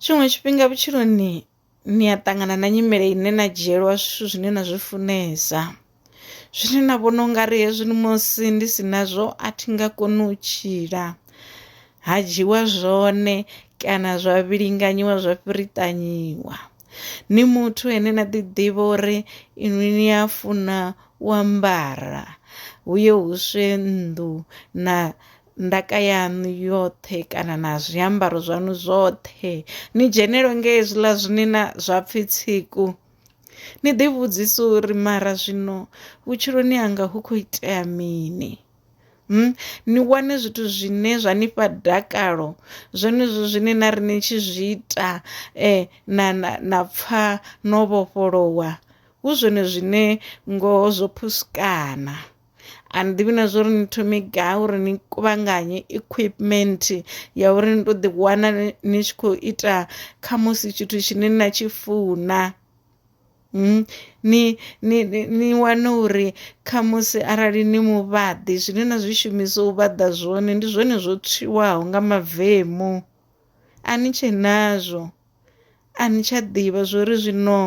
Tshiṅwe tshifhinga vhutshiloni ni a ṱangana na nyimele ine na dzhielwa zwithu zwine na zwi funesa zwine na vhona ungari hezwi musi ndi si nazwo a thi nga koni u tshila ha dzhiwa zwone kana zwa vhilinganyiwa zwa fhiriṱanyiwa. Ni muthu ane na ḓi ḓivha uri inwi ni a funa u ambara hu ye huswe nnḓu na. ndaka yaṋu yoṱhe kana na zwiambaro zwaṋu zwoṱhe ni dzhenelo nga hezwiḽa zwine na zwa pfhi tsiku ni ḓi vhudzisa uri mara zwino vhutshiloni hanga hu khou itea mini Hmm? ni wane zwithu zwine zwa ni fha dakalo zwenezwo zwine na ri ni tshi zwi ita eh, na, na, na pfha no vhofholowa hu zwone zwine ngoho zwo phuskana a ni ḓivhi na zwa uri ni thome gai uri ni kuvhanganye equipment ya uri ni to ḓi wana ni tshi khou ita kha musi tshithu tshine na tshi funa hmm? ni ni ni wane uri kha musi arali ni muvhaḓi zwine na zwi shumisa u vhaḓa zwone ndi zwone zwo tswiwaho nga mavemu A ni tshe nazwo. A ni tsha ḓivha zwori zwino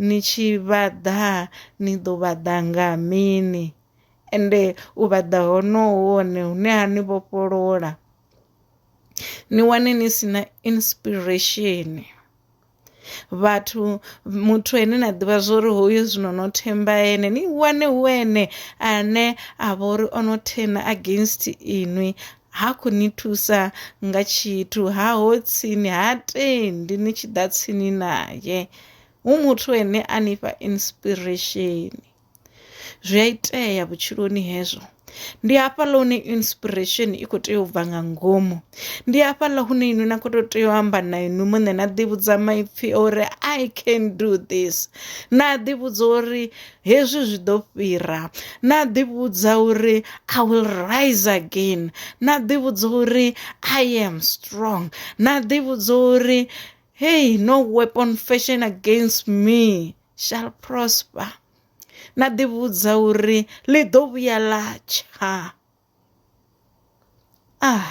ni tshi vhaḓa ni ḓo vhaḓa nga mini ende u vhaḓa hono hu hone hune ha ni vhofholola ni wane ni si na inspiration. vhathu muthu ane na ḓivha zwori hoyu zwino no themba ene ni wane hu ene ane a vha uri o no thena against inwi ha khou ni thusa nga tshithu ha ho tsini ha tendi ni tshi ḓa tsini naye hu muthu ane a nifha inspiration. zwi a itea vhutshiloni hezwo ndi hafhaḽa hune inspiration i kho tea u bva nga ngomu ndi hafhaḽa hune inwi na kho to tea u amba na inwi muṋe na ḓi vhudza maipfhi uri i can do this na ḓi vhudza uri hezwi zwi ḓo fhira na ḓi vhudza uri i will rise again na ḓi vhudza uri i am strong na ḓi vhudza uri hey no weapon fashion against me shall prosper na ḓivhudza uri ḽi ḓo vhuya ḽa tsha ah